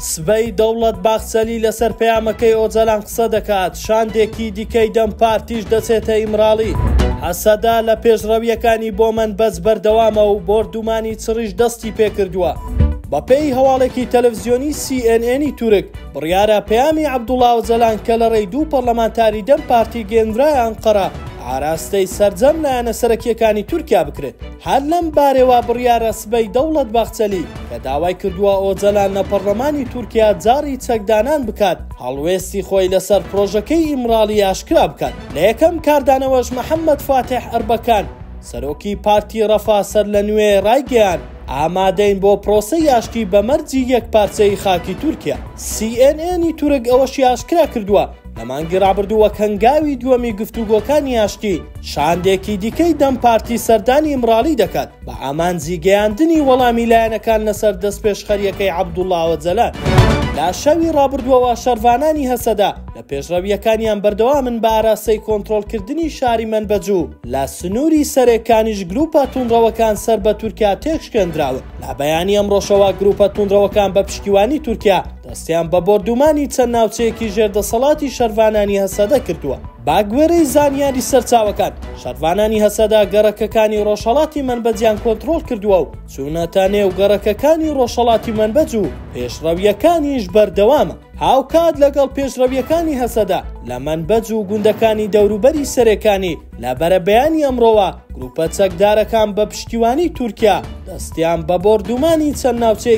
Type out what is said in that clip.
سبەی، دەوڵەت باخچەلی لەسەر پەیامەکەی ئۆجەلان قسە دەکات، شاندێکی دیکەی دەم پارتیش دەچێتە ئیمراڵی. هەسەدە لە پێشڕەوییەکانی بۆ مەنبەج بەردەوامە و بۆردومانی چڕیش دەستی پێکردووە. بەپێی هەواڵێکی تەلەفزیۆنی سی ئێن ئێنی تورک، بڕیارە پەیامی عەبدوڵا ئۆجەلان کە لە ڕێی دوو پەڕلەمانتاری دەم پارتی گەیەندرایە ئەنقەرە، ئاراستەی سەرجەم لایەنە سەرەکییەکانی تورکیا بکرێت. هەر لەم بارەوە بڕیارە سبەی دەوڵەت باخچەلی کە داوای کردووە ئۆجەلان لە پەڕڵەمانی تورکیا جاڕی چەکدانان بکات، هەڵوێستی خۆی لەسەر پڕۆژەکەی ئیمڕاڵی ئاشکرا بکات. لە یەکەم کاردانەوەش محەممەد فاتیح ئەربەکان، سەرۆکی پارتی ڕەفا سەرلەنوێ ڕایگەیاند، ئامادەین بۆ پرۆسەی ئاشتی بە مەرجی یەکپارچەیی خاکی تورکیا. سی ئێن ئێنی تورک ئەوەشی ئاشکرا کردووە، لە مانگی ڕابردووە کەنگاوی دووەمی گفتوگۆکانی ئاشتی شاندێکی دیکەی دەم پارتی سەردانی ئیمراڵی دەکات بە ئامانجی گەیاندنی وەڵامی لایەنەکان لەسەر دەستپێشخەریەکەی عەبدوڵا ئۆجەلان. لە شەوی ڕابردووەوە شەرڤانانی هەسەدە لە پێشڕەوییەکانیان بەردەوامن بە ئاراستەی کۆنترۆڵکردنی شاری مەنبەج و لە سنووری سەرێ کانیش گرووپە توندڕەوەکان سەر بە تورکیا تێکشکێندراون. لە بەیانی ئەمڕۆشەوە گرووپە توندڕەوەکان بە پشتیوانی تورکیا، دەستیان بە بۆردوومانی چەند ناوچەیەکی ژێر دەسەڵاتی شەرڤانانی هەسەدە کردووە. بەگوێرەی زانیاری سەرچاوەکان، شەرڤانانی هەسەدە گەڕەکەکانی ڕۆژهەڵاتی مەنبەجیان کۆنتڕۆڵ کردووە و چوونەتە نێو گەڕەکەکانی ڕۆژهەڵاتی مەنبەج و پێشڕەوییەکانیش بەردەوامە. هاوکات لەگەڵ پێشڕەوییەکانی هەسەدە لە مەنبەج و گوندەکانی دەوروبەری سەرێکانی، لە بەرەبەیانی ئەمڕۆوە گرووپە چەکدارەکان بە پشتیوانیی تورکیا دەستیان بە بۆردوومانی چەند ناوچەیەکی